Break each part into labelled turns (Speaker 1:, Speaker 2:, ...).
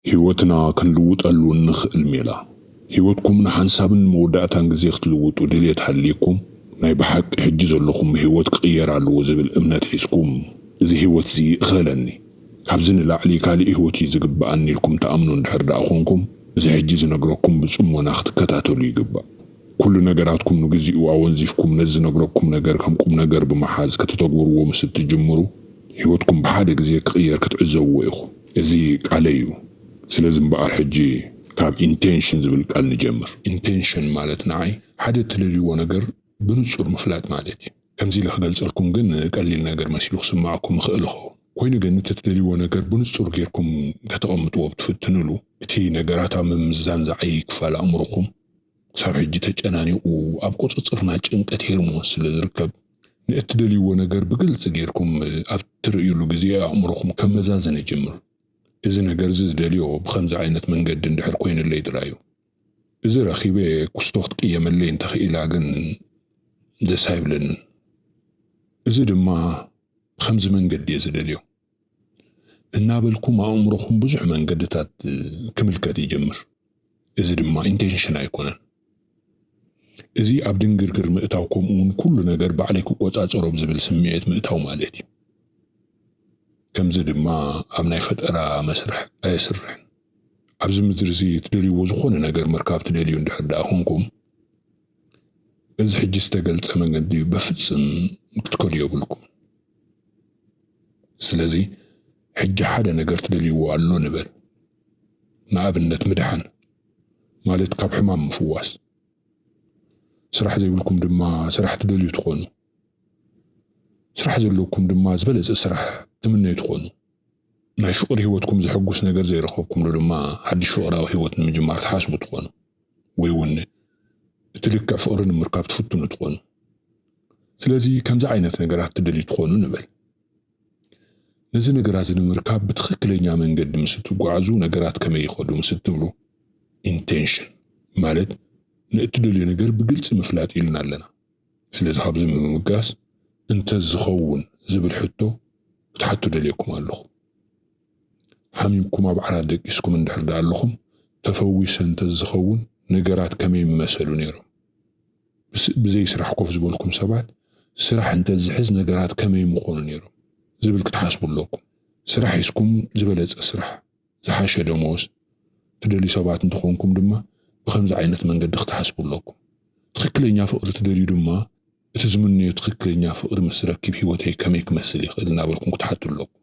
Speaker 1: ህይወትና ክንልውጠሉ እንኽእል ሜላ። ህይወትኩም ንሓንሳብን ንመወዳእታን ግዜ ክትልውጡ ድልየት ሃልይኩም፣ ናይ ብሓቂ ሕጂ ዘለኹሞ ህይወት ክቕየር ኣለዎ ዝብል እምነት ሒዝኩም፣ እዚ ህይወት'ዚ ይእኸለኒ፣ ካብዚ ንላዕሊ ካልእ ህይወት እዩ ዝግበኣኒ ኢልኩም ትኣምኑ እንድሕር ደኣ ኾንኩም፣ እዚ ሕጂ ዝነግረኩም ብጽሞና ክትከታተሉ ይግባእ። ኩሉ ነገራትኩም ንግዚኡ ኣወንዚፍኩም ነዚ ዝነግረኩም ነገር ከም ቁምነገር ብምሓዝ ከተተግብርዎ ምስ እትጅምሩ፣ ህይወትኩም ብሓደ ግዜ ክቕየር ክትዕዘብዎ ኢኹም። እዚ ቃለይ እዩ ስለዚ እምበኣር ሕጂ ካብ ኢንቴንሽን ዝብል ቃል ንጀምር። ኢንቴንሽን ማለት ንዓይ ሓደ እትደልይዎ ነገር ብንጹር ምፍላጥ ማለት እዩ። ከምዚ ኢለ ክገልጸልኩም ግን ቀሊል ነገር መሲሉ ክስመዓኩም ይኽእል ይኸውን። ኮይኑ ግን እቲ እትደልይዎ ነገር ብንጹር ጌርኩም ከተቐምጥዎ ብትፍትንሉ እቲ ነገራት ኣብ ምምዛን ዝዓይይ ክፋል ኣእምሮኹም ክሳብ ሕጂ ተጨናኒቑ ኣብ ቁጽጽርና ጭንቀት ሄርሞን ስለ ዝርከብ ንእትደልይዎ ነገር ብግልጺ ጌርኩም ኣብ እትርእዩሉ ግዜ ኣእምሮኹም ከመዛዝን ይጅምር። እዚ ነገር'ዚ ዝደልዮ ብኸምዚ ዓይነት መንገዲ እንድሕር ኮይኑለይ ጥራይ'ዩ። እዚ ረኺበ ኩስቶ ክትቅየመለይ እንተ ክኢላ ግን ደስ ኣይብለንን። እዚ ድማ ብኸምዚ መንገዲ'የ ዝደልዮ። እናበልኩም ኣእምሮኹም ብዙሕ መንገድታት ክምልከት ይጅምር። እዚ ድማ ኢንቴንሽን ኣይኮነን። እዚ ኣብ ድንግርግር ምእታው ከምኡ እውን ኩሉ ነገር ባዕለይ ክቆፃፀሮ ብዝብል ስምዒት ምእታው ማለት እዩ። ከምዚ ድማ ኣብ ናይ ፈጠራ መስርሕ ኣየስርሕን። ኣብዚ ምድሪ እዚ እትደልይዎ ዝኾነ ነገር ምርካብ ትደልዩ እንድሕር ደኣ ኮንኩም በዚ ሕጂ ዝተገልፀ መንገዲ በፍፅም ክትከዱ የብልኩምን። ስለዚ ሕጂ ሓደ ነገር ትደልይዎ ኣሎ ንበል፣ ንኣብነት ምድሓን ማለት ካብ ሕማም ምፍዋስ፣ ስራሕ ዘይብልኩም ድማ ስራሕ ትደልዩ ትኾኑ፣ ስራሕ ዘለኩም ድማ ዝበለጸ ስራሕ ትምነዩ ትኾኑ፣ ናይ ፍቕሪ ህይወትኩም ዘሐጉስ ነገር ዘይረኸብኩምሉ ድማ ሓድሽ ፍቕራዊ ህይወት ንምጅማር ትሓስቡ ትኾኑ። ወይ ውን እቲ ልክዕ ፍቕሪ ንምርካብ ትፍትኑ ትኾኑ። ስለዚ ከምዚ ዓይነት ነገራት ትደልዩ ትኾኑ ንበል። ነዚ ነገራት እዚ ንምርካብ ብትኽክለኛ መንገዲ ምስ እትጓዓዙ ነገራት ከመይ ይኸዱ ምስ እትብሉ ኢንቴንሽን ማለት ንእትደልዮ ነገር ብግልፂ ምፍላጥ ኢልና ኣለና። ስለዚ ካብዚ ብምብጋስ እንተዝኸውን ዝብል ሕቶ ክትሓቱ ደልየኩም ኣለኹ። ሓሚምኩም ኣብ ዓራት ደቂስኩም እንድሕር ድኣ ኣለኹም ተፈዊሰ እንተዝኸውን ነገራት ከመይ ምመሰሉ ነይሮም? ምስ ብዘይ ስራሕ ኮፍ ዝበልኩም ሰባት ስራሕ እንተዝሕዝ ነገራት ከመይ ምኾኑ ነይሮም? ዝብል ክትሓስቡ ኣለኩም። ስራሕ ሒዝኩም ዝበለጸ ስራሕ፣ ዝሓሸ ደሞዝ፣ ትደልዩ ሰባት እንተኾንኩም ድማ ብኸምዚ ዓይነት መንገዲ ክትሓስቡ ኣለኩም። ትኽክለኛ ፍቕሪ ትደልዩ ድማ እቲ ዝምነዮ ትኽክለኛ ፍቕሪ ምስ ረክብ ህይወተይ ከመይ ክመስል ይኽእል እናበልኩም ክትሓቱ ኣለኩም።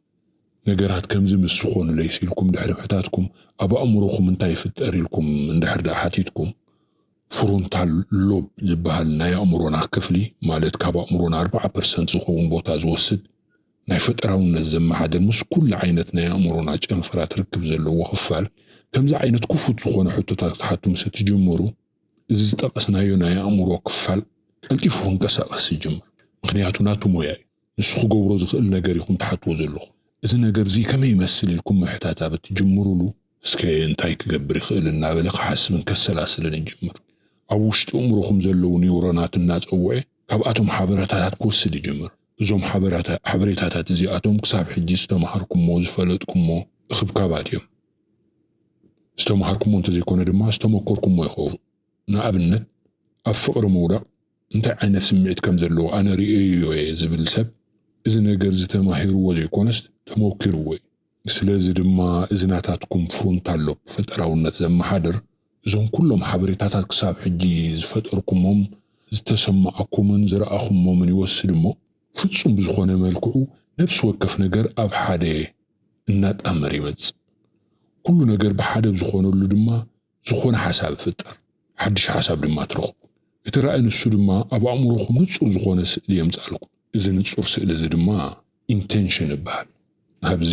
Speaker 1: ነገራት ከምዚ ምስ ዝኾኑለይስ ኢልኩም ድሕሪ ምሕታትኩም ኣብ ኣእምሮኹም እንታይ ይፍጠር ኢልኩም እንድሕር ደኣ ሓቲትኩም ፍሮንታል ሎብ ዝበሃል ናይ ኣእምሮና ክፍሊ ማለት ካብ ኣእምሮና ኣርብዓ ፐርሰንት ዝኸውን ቦታ ዝወስድ ናይ ፈጠራውነት ዘመሓድር ምስ ኩሉ ዓይነት ናይ ኣእምሮና ጨንፈራት ርክብ ዘለዎ ክፋል ከምዚ ዓይነት ክፉት ዝኾነ ሕቶታት ክትሓቱ ምስ እትጅምሩ እዚ ዝጠቐስናዮ ናይ ኣእምሮ ክፋል ቀልጢፉ ክንቀሳቐስ ይጅምር፣ ምኽንያቱ ናቱ ሞያ እዩ። ንሱ ክገብሮ ዝኽእል ነገር ኢኹም ትሓትዎ ዘለኹም። እዚ ነገርዚ ከመይ ይመስል ኢልኩም ምሕታት ኣብ እትጅምሩሉ፣ እስከ እንታይ ክገብር ይኽእል እናበለ ክሓስብን ከሰላስልን ይጅምር። ኣብ ውሽጢ ኣእምሮኹም ዘለዉ ኒውሮናት እናጸውዐ ካብኣቶም ሓበረታታት ክወስድ ይጅምር። እዞም ሓበሬታታት እዚኣቶም ክሳብ ሕጂ ዝተማሃርኩሞ፣ ዝፈለጥኩሞ እኽብካባት እዮም። ዝተማሃርኩሞ እንተዘይኮነ ድማ ዝተመኮርኩሞ ይኸውን። ንኣብነት ኣብ ፍቕሪ ምውዳቕ እንታይ ዓይነት ስምዒት ከም ዘለዎ ኣነ ርእየዮ እየ ዝብል ሰብ እዚ ነገርዚ ተማሂርዎ ዘይኮነስ ተመኪርዎ እዩ። ስለዚ ድማ እዚ ናታትኩም ፍሮንታል ሎብ፣ ፈጠራውነት ዘመሓድር፣ እዞም ኩሎም ሓበሬታታት ክሳብ ሕጂ ዝፈጠርኩሞም፣ ዝተሰማዓኩምን ዝረኣኹሞምን ይወስድ እሞ ፍጹም ብዝኾነ መልክዑ ነብሲ ወከፍ ነገር ኣብ ሓደ፣ እናጣመረ ይመጽእ። ኩሉ ነገር ብሓደ ኣብ ዝኾነሉ ድማ ዝኾነ ሓሳብ ይፍጠር፣ ሓድሽ ሓሳብ ድማ ትረኽቡ። እቲ ራእይ ንሱ ድማ ኣብ ኣእምሮኹም ንጹር ዝኾነ ስእሊ የምጽኣልኩም። እዚ ንጹር ስእሊ እዚ ድማ ኢንተንሽን ይበሃል። ኣብዚ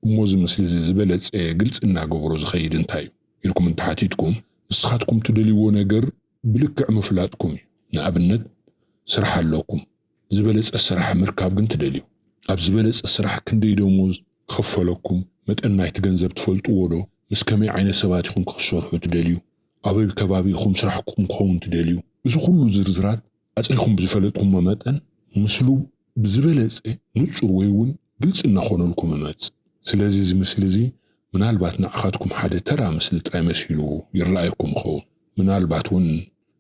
Speaker 1: እሞ እዚ ምስሊ እዚ ዝበለጸ ግልጺ እናገበሮ ዝኸይድ እንታይ እዩ? ኢልኩም እንተሓቲትኩም፣ ንስኻትኩም ትደልይዎ ነገር ብልክዕ ምፍላጥኩም እዩ። ንኣብነት ስራሕ ኣለኩም። ዝበለጸ ስራሕ ምርካብ ግን ትደልዩ። ኣብ ዝበለጸ ስራሕ ክንደይ ደሞዝ ክኽፈለኩም፣ መጠን ናይቲ ገንዘብ ትፈልጥዎ ዶ? ምስ ከመይ ዓይነት ሰባት ኢኹም ክክሰርሑ ትደልዩ? ኣበይ ከባቢ ኢኹም ስራሕኩም ክኸውን ትደልዩ? እዚ ኩሉ ዝርዝራት ኣጽሪኹም ብዝፈለጥኩሞ መጠን ምስሉ ብዝበለጸ ንጹር ወይ እውን ግልጺ እናኾነልኩም እመጽእ። ስለዚ እዚ ምስሊ እዚ ምናልባት ንዓኻትኩም ሓደ ተራ ምስሊ ጥራይ መሲሉ ይረኣየኩም ይኸውን። ምናልባት እውን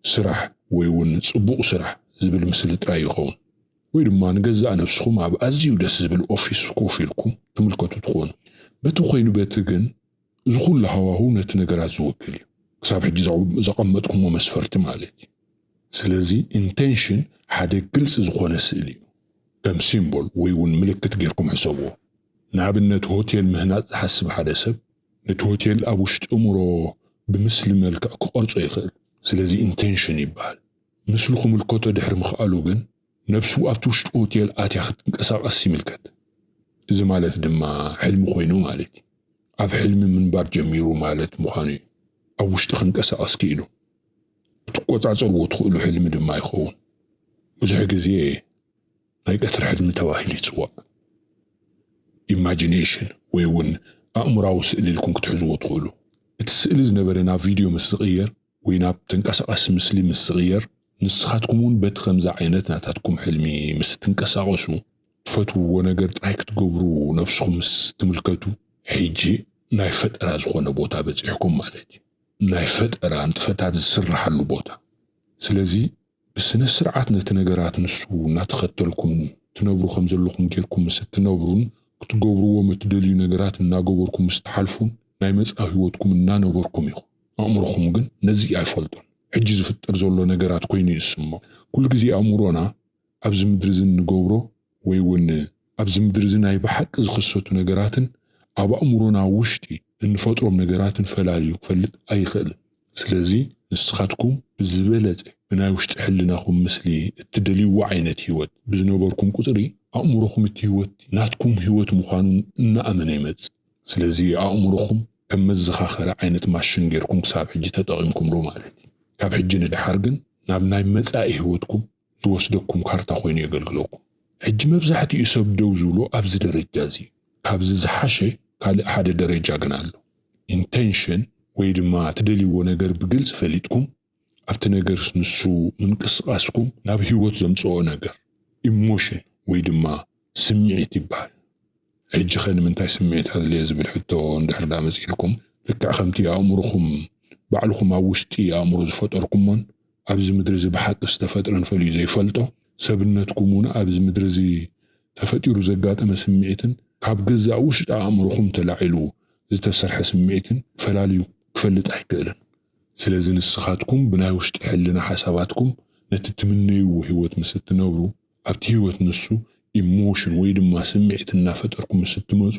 Speaker 1: ስራሕ ወይ ውን ጽቡቕ ስራሕ ዝብል ምስሊ ጥራይ ይኸውን። ወይ ድማ ንገዛእ ነብስኹም ኣብ ኣዝዩ ደስ ዝብል ኦፊስ ኮፍ ኢልኩም ትምልከቱ ትኾኑ። በቲ ኮይኑ በቲ ግን እዚ ኩሉ ሃዋህው ነቲ ነገራት ዝውክል እዩ። ክሳብ ሕጂ ዘቐመጥኩሞ መስፈርቲ ማለት እዩ። ስለዚ ኢንተንሽን ሓደ ግልጺ ዝኾነ ስእሊ እዩ። ከም ሲምቦል ወይ ውን ምልክት ጌርኩም ሕሰብዎ። ንኣብነት ሆቴል ምህናጽ ዝሓስብ ሓደ ሰብ ነቲ ሆቴል ኣብ ውሽጢ እምሮ ብምስሊ መልክዕ ክቐርጾ ይኽእል። ስለዚ ኢንተንሽን ይበሃል። ምስሉ ክምልከቶ ድሕሪ ምኽኣሉ ግን ነብሱ ኣብቲ ውሽጢ ሆቴል ኣትያ ክትንቀሳቐስ ይምልከት። እዚ ማለት ድማ ሕልሚ ኮይኑ ማለት እዩ። ኣብ ሕልሚ ምንባር ጀሚሩ ማለት ምዃኑ እዩ። ኣብ ውሽጢ ክንቀሳቐስ ክኢሉ። ክትቆጻጸርዎ ትኽእሉ ሕልሚ ድማ ይኸውን። ብዙሕ ግዜ። ናይ ቀትሪ ሕልሚ ተባሂሉ ይጽዋዕ። Imagination ወይ እውን ኣእምሮኣዊ ስእሊ ኢልኩም ክትሕዝዎ ትኽእሉ። እቲ ስእሊ ዝነበረ ናብ ቪድዮ ምስ ዝቕየር ወይ ናብ ተንቀሳቓሲ ምስሊ ምስ ዝቕየር ንስኻትኩም እውን በቲ ከምዚ ዓይነት ናታትኩም ሕልሚ ምስ እትንቀሳቐሱ፣ ትፈትውዎ ነገር ጥራይ ክትገብሩ ነብስኹም ምስ እትምልከቱ፣ ሕጂ ናይ ፈጠራ ዝኾነ ቦታ በጺሕኩም ማለት እዩ። ናይ ፈጠራ ንጥፈታት ዝስርሓሉ ቦታ። ስለዚ። ብስነስርዓት ነቲ ነገራት ንሱ እናተኸተልኩም ትነብሩ ከም ዘለኹም ጌርኩም ምስ እትነብሩን ክትገብርዎም እትደልዩ ነገራት እናገበርኩም ምስ ትሓልፉን ናይ መጻኢ ህይወትኩም እናነበርኩም ኢኹም። ኣእምሮኹም ግን ነዚ ኣይፈልጦን። ሕጂ ዝፍጠር ዘሎ ነገራት ኮይኑ እዩ ዝስምዖ። ኩሉ ግዜ ኣእምሮና ኣብዚ ምድሪ እዚ እንገብሮ ወይ እውን ኣብዚ ምድሪ እዚ ናይ ብሓቂ ዝኽሰቱ ነገራትን ኣብ ኣእምሮና ውሽጢ እንፈጥሮም ነገራትን ፈላልዩ ክፈልጥ ኣይኽእልን። ስለዚ ንስኻትኩም ብዝበለፀ ብናይ ውሽጢ ሕልናኹም ምስሊ እትደልይዎ ዓይነት ህይወት ብዝነበርኩም ቁፅሪ ኣእምሮኹም እቲ ህይወት ናትኩም ህይወት ምዃኑ እናኣመነ ይመፅእ። ስለዚ ኣእምሮኹም ከም መዘኻኸሪ ዓይነት ማሽን ገይርኩም ክሳብ ሕጂ ተጠቒምኩምሉ ማለት እዩ። ካብ ሕጂ ንደሓር ግን ናብ ናይ መፃኢ ህይወትኩም ዝወስደኩም ካርታ ኮይኑ የገልግለኩም። ሕጂ መብዛሕቲኡ ሰብ ደው ዝብሎ ኣብዚ ደረጃ እዚ እዩ። ካብዚ ዝሓሸ ካልእ ሓደ ደረጃ ግን ኣሎ። Intention ወይ ድማ ትደልይዎ ነገር ብግልጺ ፈሊጥኩም ኣብቲ ነገርስ ንሱ ምንቅስቃስኩም ናብ ሂወት ዘምጽኦ ነገር፣ Emotion ወይ ድማ ስምዒት ይበሃል። ሕጂኸ ንምንታይ ስምዒት ኣድለየ ዝብል ሕቶ እንድሕር ደኣ መጺኡልኩም፣ ልክዕ ከምቲ ኣእምሮኹም ባዕልኹም ኣብ ውሽጢ ኣእምሮ ዝፈጠርኩሞን ኣብዚ ምድሪ'ዚ ብሓቂ ዝተፈጥረን ፈልዩ ዘይፈልጦ ሰብነትኩም'ውን ኣብዚ ምድሪ'ዚ ተፈጢሩ ዘጋጠመ ስምዒትን ካብ ገዛእ ውሽጢ ኣእምሮኹም ተላዒሉ ዝተሰርሐ ስምዒትን ፈላልዩ ክፈልጥ ኣይክእልን። ስለዚ ንስኻትኩም ብናይ ውሽጢ ሕልና ሓሳባትኩም ነቲ ትምነይዎ ህይወት ምስ እትነብሩ፣ ኣብቲ ህይወት ንሱ፣ ኢሞሽን፣ ወይ ድማ ስምዒት እናፈጠርኩም ምስ እትመጹ፣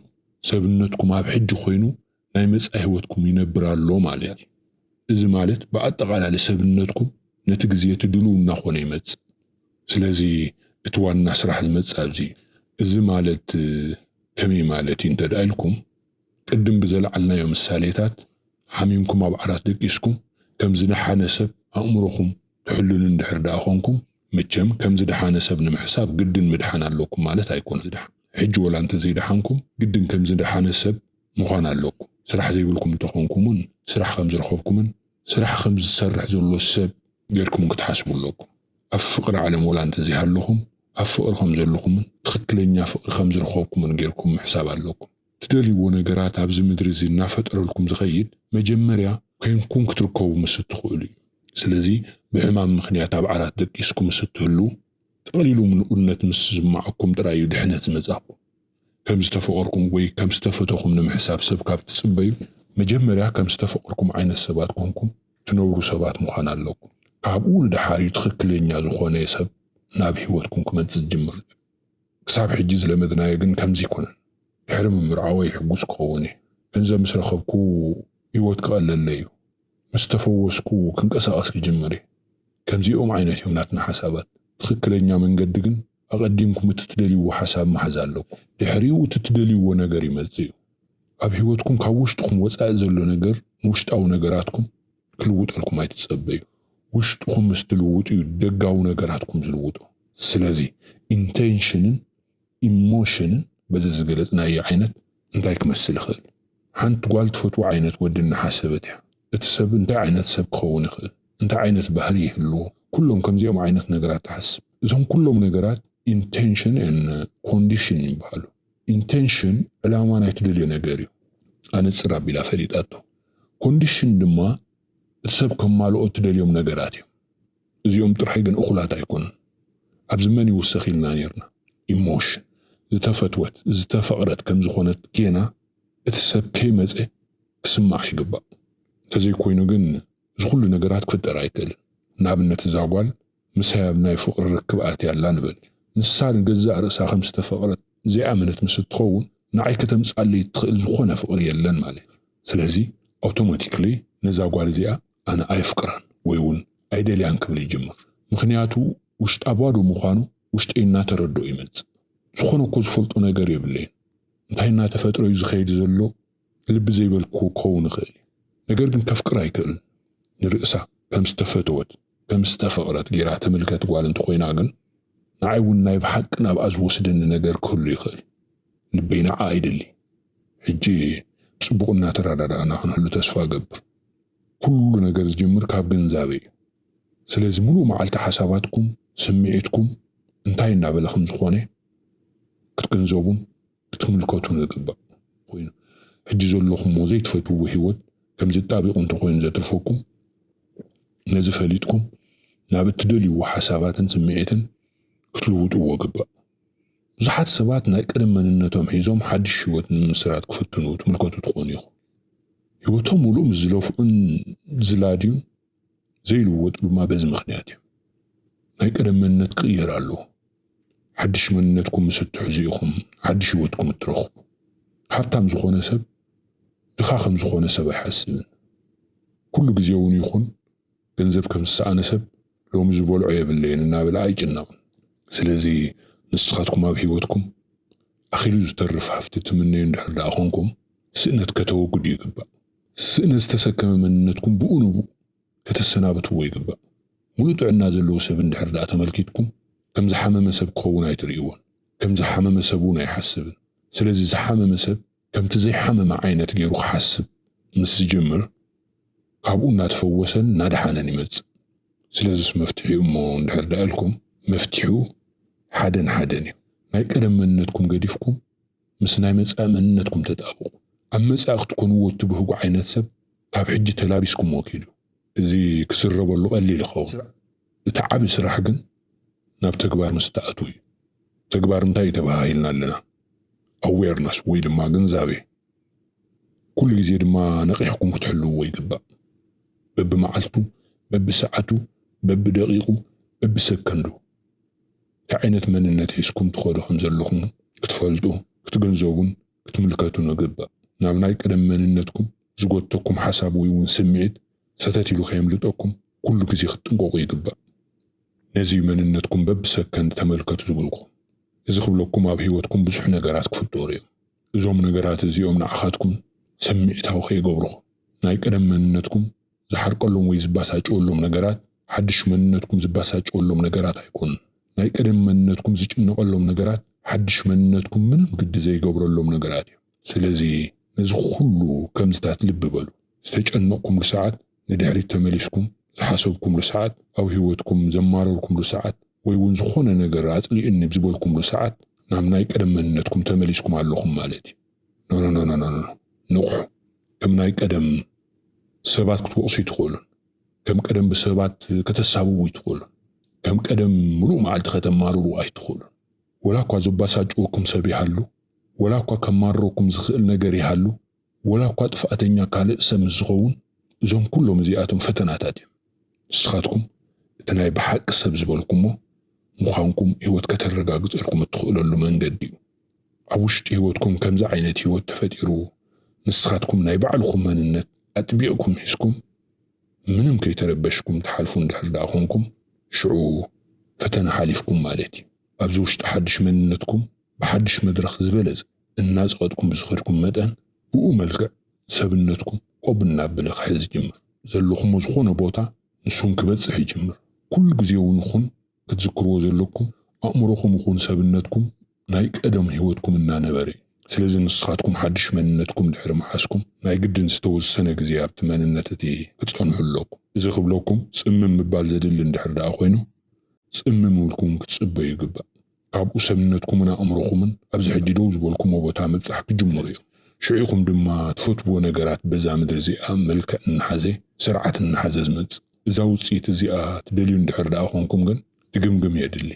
Speaker 1: ሰብነትኩም ኣብ ሕጂ ኮይኑ ናይ መጻኢ ህይወትኩም ይነብር ኣሎ ማለት እዩ። እዚ ማለት ብኣጠቓላሊ ሰብነትኩም ነቲ ግዜ እቲ ድሉው እናኾነ ይመጽእ። ስለዚ እቲ ዋና ስራሕ ዝመጽእ ኣብዚ እዩ። እዚ ማለት ከመይ ማለት እዩ እንተድኣ ኢልኩም፣ ቅድም ብዘልዓልናዮ ምሳሌታት፣ ሓሚምኩም ኣብ ዓራት ደቂስኩም ከም ዝደሓነ ሰብ ኣእምሮኹም ትሕልኑ እንድሕር ድኣ ኾንኩም፣ መቸም ከም ዝደሓነ ሰብ ንምሕሳብ ግድን ምድሓን ኣለኩም ማለት ኣይኮነን። ሕጂ ወላ እንተዘይደሓንኩም ግድን ከም ዝደሓነ ሰብ ምዃን ኣለኩም። ስራሕ ዘይብልኩም እንተኾንኩም እውን ስራሕ ከም ዝረኸብኩምን ስራሕ ከም ዝሰርሕ ዘሎ ሰብ ጌርኩም እውን ክትሓስቡ ኣለኩም። ኣብ ፍቕሪ ዓለም ወላ እንተዘይሃለኹም ኣብ ፍቕሪ ከም ዘለኹምን ትኽክለኛ ፍቕሪ ከም ዝረኸብኩምን ጌርኩም ምሕሳብ ኣለኩም። ትደልይዎ ነገራት ኣብዚ ምድሪ እዚ እናፈጠረልኩም ዝኸይድ መጀመርያ ኮይንኩም ክትርከቡ ምስ እትኽእሉ እዩ። ስለዚ ብሕማም ምኽንያት ኣብ ዓራት ደቂስኩም ምስ እትህልዉ ጠቕሊሉ ምሉእነት ምስ ዝስምዓኩም ጥራይ እዩ ድሕነት ዝመጻኩም። ከም ዝተፈቐርኩም ወይ ከም ዝተፈተኹም ንምሕሳብ ሰብ ካብ እትጽበዩ መጀመርያ ከም ዝተፈቐርኩም ዓይነት ሰባት ኮንኩም ትነብሩ ሰባት ምዃን ኣለኩም። ካብኡ ንደሓር እዩ ትኽክለኛ ዝኾነ ሰብ ናብ ህይወትኩም ክመጽእ ዝጅምር። ክሳብ ሕጂ ዝለመድናዮ ግን ከምዚ ኣይኮነን ድሕሪ ምምርዓወይ ሕጉስ ክኸውን እየ ገንዘብ ምስ ረኸብኩ ሂወት ክቐለለይ እዩ ምስ ተፈወስኩ ክንቀሳቐስ ክጅምር እየ ከምዚኦም ዓይነት እዮም ናትና ሓሳባት ትኽክለኛ መንገዲ ግን ኣቐዲምኩም እቲ ትደልይዎ ሓሳብ ምሓዝ ኣለኩም ድሕሪኡ እቲ ትደልይዎ ነገር ይመጽእ እዩ ኣብ ሂወትኩም ካብ ውሽጥኹም ወጻኢ ዘሎ ነገር ንውሽጣዊ ነገራትኩም ክልውጠልኩም ኣይትጸበዩ ውሽጥኹም ምስ ትልውጡ እዩ ደጋዊ ነገራትኩም ዝልውጦ ስለዚ ኢንተንሽንን ኢሞሽንን በዚ ዝገለጽናዮ ዓይነት እንታይ ክመስል ይኽእል ሓንቲ ጓል ትፈትዎ ዓይነት ወዲ እናሓሰበት እያ እቲ ሰብ እንታይ ዓይነት ሰብ ክኸውን ይኽእል እንታይ ዓይነት ባህሪ ይህልዎ ኩሎም ከምዚኦም ዓይነት ነገራት ትሓስብ እዞም ኩሎም ነገራት ኢንተንሽን ን ኮንዲሽን ይበሃሉ። Intention ዕላማ ናይ ትደልዮ ነገር እዩ ኣነጽር ኣቢላ ፈሊጣቶ። Condition ድማ እቲ ሰብ ከማልኦ እትደልዮም ነገራት እዮም። እዚኦም ጥራይ ግን እኹላት ኣይኮኑን። ኣብዚ መን ይውሰኽ ኢልና ኔርና። Emotion ዝተፈትወት፣ ዝተፈቕረት ከም ዝኾነት ጌና እቲ ሰብ ከይመጸ ክስምዓ ይግባእ። እንተዘይኮይኑ ግን እዚ ኩሉ ነገራት ክፍጠር ኣይክእልን። ንኣብነት እዛ ጓል ምሳይ ኣብ ናይ ፍቕሪ ርክብ ኣትያ ኣላ ንበል። ንሳ ንገዛእ ርእሳ ከም ዝተፈቕረት ዘይኣመነት ምስ እትኸውን፣ ንዓይ ከተምጽኣለይ እትኽእል ዝኾነ ፍቕሪ የለን ማለት እዩ። ስለዚ ኣውቶማቲክሊ ነዛ ጓል እዚኣ ኣነ ኣየፍቅራን ወይ እውን ኣይደልያን ክብል ይጅምር። ምኽንያቱ ውሽጣ ባዶ ምዃኑ ውሽጠይ እናተረድኦ ይመጽእ። ዝኾነ እኮ ዝፈልጦ ነገር የብለይን። እንታይ እናተፈጥረ እዩ ዝኸይድ ዘሎ? ልቢ ዘይበልክዎ ክኸውን ይኽእል እዩ ነገር ግን ከፍቅር ኣይክእልን ንርእሳ ከም ዝተፈተወት ከም ዝተፈቅረት ጌራ ትምልከት ጓል እንተኾይና ግን ንዓይ እውን ናይ ብሓቂ ናብኣ ዝወስደኒ ነገር ክህሉ ይኽእል ልበይ ንዓኣ ይደሊ ሕጂ ብጽቡቕ እናተረዳዳእና ክንህሉ ተስፋ እገብር ኩሉ ነገር ዝጅምር ካብ ግንዛበ እዩ ስለዚ ምሉእ መዓልቲ ሓሳባትኩም ስምዒትኩም እንታይ እናበለ ከም ዝኾነ ክትግንዘቡን ክትምልከቱ ዘግባእ ኮይኑ ሕጂ ዘለኹሞ ዘይትፈትውዎ ህይወት ከም ዝጣቢቑ እንተኾይኑ ዘትርፈኩም ነዚ ፈሊጥኩም ናብ እትደልይዎ ሓሳባትን ስምዒትን ክትልውጥዎ ግባእ። ብዙሓት ሰባት ናይ ቀደም መንነቶም ሒዞም ሓድሽ ህይወት ንምምስራት ክፍትኑ ትምልከቱ ትኾኑ ኢኹም። ህይወቶም ምሉእ ምስ ዝለፍዑን ዝላድዩን ዘይልወጡ ድማ በዚ ምኽንያት እዮም። ናይ ቀደም መንነት ክቕየር ኣለዎ። ሓድሽ መንነትኩም ምስ እትሕዙ ኢኹም ሓድሽ ህይወትኩም እትረኽቡ። ሃብታም ዝኾነ ሰብ ድኻ ከም ዝኾነ ሰብ ኣይሓስብን። ኩሉ ግዜ እውን ይኹን ገንዘብ ከም ዝሰኣነ ሰብ ሎሚ ዝበልዖ የብለይን እናበለ ኣይጭነቕን። ስለዚ ንስኻትኩም ኣብ ህይወትኩም ኣኺሉ ዝተርፍ ሃፍቲ ትምነዩ እንድሕር ደኣ ኾንኩም ስእነት ከተወግዱ ይግባእ። ስእነ ዝተሰከመ መንነትኩም ብኡ ንብኡ ከተሰናብትዎ ይግባእ። ሙሉእ ጥዕና ዘለዎ ሰብ እንድሕር ድኣ ተመልኪትኩም ከም ዝሓመመ ሰብ ክኸውን ኣይትርእይዎን። ከም ዝሓመመ ሰብ እውን ኣይሓስብን። ስለዚ ዝሓመመ ሰብ ከምቲ ዘይሓመመ ዓይነት ገይሩ ክሓስብ ምስ ዝጅምር ካብኡ እናተፈወሰን እናደሓነን ይመፅእ። ስለዝስ መፍትሒኡ እሞ እንድሕር ድኣ ኢልኩም መፍትሒኡ ሓደን ሓደን እዩ። ናይ ቀደም መንነትኩም ገዲፍኩም ምስ ናይ መጻኢ መንነትኩም ተጣብቑ። ኣብ መጻኢ ክትኮንዎ እትብህጉ ዓይነት ሰብ ካብ ሕጂ ተላቢስኩምዎ ኪዱ። እዚ ክዝረበሉ ቀሊል ይኸውን። እቲ ዓቢ ስራሕ ግን ናብ ተግባር ምስ እትኣትዉ እዩ። ተግባር እንታይ እዩ ተበሃሂልና ኣለና? ኣዌርነስ ወይ ድማ ግንዛቤ። ኩሉ ግዜ ድማ ነቒሕኩም ክትሕልዉዎ ይግባእ። በብመዓልቱ፣ በብሰዓቱ፣ በብደቒቑ፣ በብሰከንዱ። እንታይ ዓይነት መንነት ሒዝኩም ትኸዱ ከም ዘለኹም ክትፈልጡ፣ ክትግንዘቡን ክትምልከቱን እግባእ። ናብ ናይ ቀደም መንነትኩም ዝጎትተኩም ሓሳብ ወይ እውን ስምዒት ሰተት ኢሉ ከየምልጠኩም ኩሉ ግዜ ክትጥንቀቑ ይግባእ። ነዚ እዩ መንነትኩም በብሰከንድ ተመልከቱ ዝብልኩም። እዚ ክብለኩም ኣብ ህይወትኩም ብዙሕ ነገራት ክፍጠሩ እዮም። እዞም ነገራት እዚኦም ንዓኻትኩም ስምዒታዊ ከይገብርኹም ናይ ቀደም መንነትኩም ዝሓርቀሎም ወይ ዝባሳጨወሎም ነገራት ሓድሽ መንነትኩም ዝባሳጨወሎም ነገራት ኣይኮኑን። ናይ ቀደም መንነትኩም ዝጭነቐሎም ነገራት ሓድሽ መንነትኩም ምንም ግዲ ዘይገብረሎም ነገራት እዮም። ስለዚ ነዚ ኩሉ ከምዚታት ልቢ በሉ። ዝተጨነቕኩምሉ ሰዓት ንድሕሪት ተመሊስኩም ዝሓሰብኩምሉ ሰዓት ኣብ ህይወትኩም ዘማረርኩምሉ ሰዓት ወይ እውን ዝኾነ ነገር ኣጽሊኡኒ ዝበልኩምሉ ሰዓት ናብ ናይ ቀደም መንነትኩም ተመሊስኩም ኣለኹም ማለት እዩ። ኖኖኖኖኖኖ ንቕሑ። ከም ናይ ቀደም ሰባት ክትወቕሱ ኣይትኽእሉን። ከም ቀደም ብሰባት ከተሳብቡ ኣይትኽእሉን። ከም ቀደም ምሉእ መዓልቲ ከተማርሩ ኣይትኽእሉን። ወላ እኳ ዘባሳጭወኩም ሰብ ይሃሉ፣ ወላ እኳ ከማርረኩም ዝኽእል ነገር ይሃሉ፣ ወላ እኳ ጥፍኣተኛ ካልእ ሰብ ምስ ዝኸውን፣ እዞም ኩሎም እዚኣቶም ፈተናታት እዮም። ንስኻትኩም እቲ ናይ ብሓቂ ሰብ ዝበልኩሞ ምዃንኩም ህይወት ከተረጋግጸልኩም እትኽእለሉ መንገዲ እዩ። ኣብ ውሽጢ ህይወትኩም ከምዚ ዓይነት ህይወት ተፈጢሩ ንስኻትኩም ናይ ባዕልኹም መንነት ኣጥቢቕኩም ሒዝኩም ምንም ከይተረበሽኩም ትሓልፉ እንድሕር ደኣ ኮንኩም ሽዑ ፈተና ሓሊፍኩም ማለት እዩ። ኣብዚ ውሽጢ ሓድሽ መንነትኩም ብሓድሽ መድረኽ ዝበለፀ እናፀቐጥኩም ብዝኸድኩም መጠን ብኡ መልክዕ ሰብነትኩም ቆብ እናበለ ክሕዝ ይጅምር። ዘለኹሞ ዝኾነ ቦታ ንሱ እውን ክበፅሕ ይጅምር። ኩሉ ግዜ እውን ይኹን ክትዝክርዎ ዘለኩም ኣእምሮኩም ይኩን ሰብነትኩም ናይ ቀደም ሂወትኩም እናነበረ እዩ ስለዚ ንስካትኩም ሓድሽ መንነትኩም ድሕሪ ምሓዝኩም ናይ ግድን ዝተወሰነ ግዜ ኣብቲ መንነት እቲ ክጸንሑ ኣለኩም እዚ ክብለኩም ጽምም ምባል ዘድሊ እንድሕር ደኣ ኮይኑ ጽምም እውልኩም ክትጽበዩ ይግባእ ካብኡ ሰብነትኩምን ኣእምሮኩምን ኣብዚ ሕጂ ደው ዝበልኩሞ ቦታ ምብጻሕ ክጅምሩ እዮም ሽዑ ኢኩም ድማ ትፈትውዎ ነገራት በዛ ምድሪ እዚኣ መልክዕ እናሓዘ ስርዓት እናሓዘ ዝመጽእ እዛ ውጽኢት እዚኣ ትደልዩ እንድሕር ደኣ ኰንኩም ግን ድግምግም የድሊ።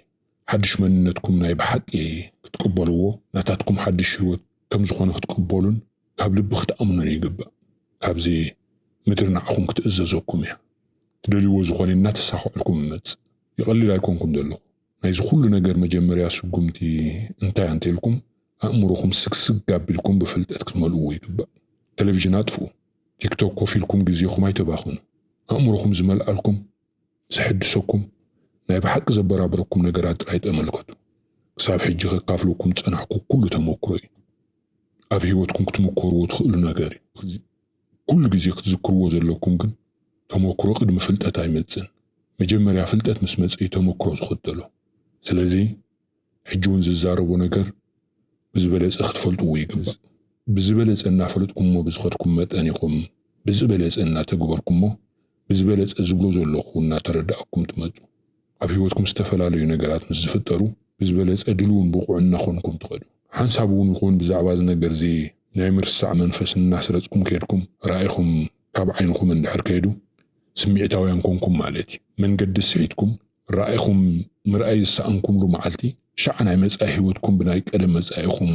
Speaker 1: ሓድሽ መንነትኩም ናይ ብሓቂ ክትቅበልዎ፣ ናታትኩም ሓድሽ ህይወት ከም ዝዀነ ክትቅበሉን ካብ ልቢ ክትኣምኑን ይግባእ። ካብዚ ምድሪ ንዓኹም ክትእዘዘኩም እያ። ትደልዩዎ ዝዀነ እናተሳኽዐልኩም ይመጽእ። ይቐልል ኣይኰንኩን ዘለኹ። ናይዚ ኵሉ ነገር መጀመርያ ስጕምቲ እንታይ ኣንተ ኢልኩም ኣእምሮኹም ስግስግ ኣቢልኩም ብፍልጠት ክትመልኡዎ ይግባእ። ተለቪዥን ኣጥፍኡ። ቲክቶክ ኮፍ ኢልኩም ግዜኹም ኣይተባኽኑ። ኣእምሮኹም ዝመልኣልኩም፣ ዘሐድሰኩም፣ ናይ ብሓቂ ዘበራብረኩም ነገራት ጥራይ ጠመልከቱ። ክሳብ ሕጂ ከካፍለኩም ዝጸናሕኩ ኩሉ ተመኩሮ እዩ። ኣብ ህይወትኩም ክትምኮርዎ ትኽእሉ ነገር እዩ። ኩሉ ግዜ ክትዝክርዎ ዘለኩም ግን ተመኩሮ ቅድሚ ፍልጠት ኣይመጽን። መጀመርያ ፍልጠት ምስ መጸ እዩ ተመኩሮ ዝኽተሎ። ስለዚ ሕጂ ውን ዝዛረቦ ነገር ብዝበለጸ ክትፈልጥዎ ይግባእ። ብዝበለጸ እናፈለጥኩሞ ብዝኸድኩም መጠን ኢኹም ብዝበለጸ እናተግበርኩሞ ብዝበለጸ ዝብሎ ዘለኹ እናተረዳእኩም ትመጹ። ኣብ ህይወትኩም ዝተፈላለዩ ነገራት ምስ ዝፍጠሩ ብዝበለጸ ድልውን ብቑዕን እናኾንኩም ትኸዱ። ሓንሳብ ውን ይኹን ብዛዕባ እዚ ነገርዚ ናይ ምርሳዕ መንፈስ እናስረጽኩም ከድኩም ራኢኹም ካብ ዓይንኹም እንድሕር ከይዱ ስሚዕታውያን ኮንኩም ማለት እዩ። መንገዲ ስሒትኩም ራኢኹም ምርኣይ ዝሰኣንኩምሉ መዓልቲ፣ ሻዕ ናይ መጻኢ ህይወትኩም ብናይ ቀደም መጻኢኹም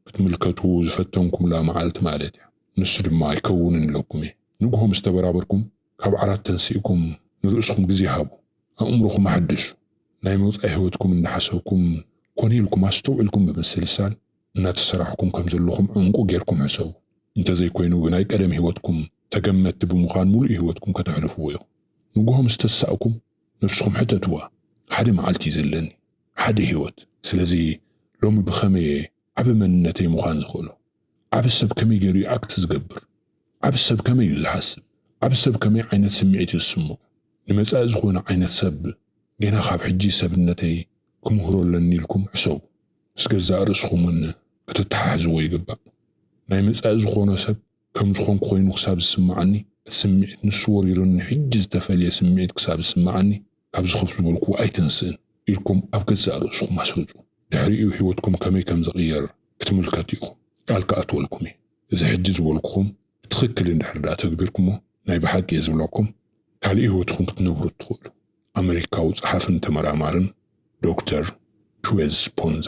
Speaker 1: ክትምልከቱ ዝፈተንኩምላ መዓልቲ ማለት እያ። ንሱ ድማ ኣይከውንን ኢለኩም እየ። ንግሆ ምስ ተበራበርኩም፣ ካብ ዓራት ተንሲእኩም ንርእስኹም ግዜ ሃቡ። ኣእምሮኹም ኣሐድሱ። ናይ መጻኢ ህይወትኩም እናሓሰብኩም ኮነ ኢልኩም ኣስተውዒልኩም ብምስልሳል እናተሰራሕኩም ከም ዘለኹም ዕምቁ ጌርኩም ሕሰቡ። እንተዘይኮይኑ ብናይ ቀደም ህይወትኩም ተገመትቲ ብምዃን ምሉእ ህይወትኩም ከተሕልፍዎ ኢኹም። ንግሆ ምስ ተሳእኩም፣ ነብስኹም ሕተትዋ ሓደ መዓልቲ እዩ ዘለኒ ሓደ ሂወት ስለዚ ሎሚ ብኸመይ እየ ዓቢ መንነተይ ምዃን ዝኽእሎ ዓቢ ሰብ ከመይ ጌሩ እዩ ኣክት ዝገብር ዓቢ ሰብ ከመይ እዩ ዝሓስብ ዓቢ ሰብ ከመይ ዓይነት ስምዒት እዩ ዝስምዖ ንመጻኢ ዝኾነ ዓይነት ሰብ ጌና ካብ ሕጂ ሰብነተይ ክምህሮ ኣለኒ ኢልኩም ሕሰቡ ምስ ገዛእ ርእስኹም ውን ከተተሓሕዝዎ ይግባእ ናይ መጻኢ ዝኾኖ ሰብ ከም ዝኾንኩ ኮይኑ ክሳብ ዝስምዓኒ፣ እቲ ስምዒት ንሱ ወሪሩኒ ሕጂ ዝተፈልየ ስምዒት ክሳብ ዝስምዓኒ ካብዚ ኮፍ ዝበልክዎ ኣይተንስእን ኢልኩም ኣብ ገዛእ ርእስኹም ኣስርጹ። ድሕሪኡ ህይወትኩም ከመይ ከም ዝቕየር ክትምልከቱ ኢኹም። ቃል ክኣትወልኩም እየ። እዚ ሕጂ ዝበልኩኹም ብትኽክል እንድሕር ድኣ ተግቢርኩሞ ናይ ብሓቂ እየ ዝብለኩም ካልእ ህይወትኹም ክትነብሩ እትኽእሉ። ኣመሪካዊ ጸሓፍን ተመራማርን ዶክተር ቹዌዝ ስፖንዛ።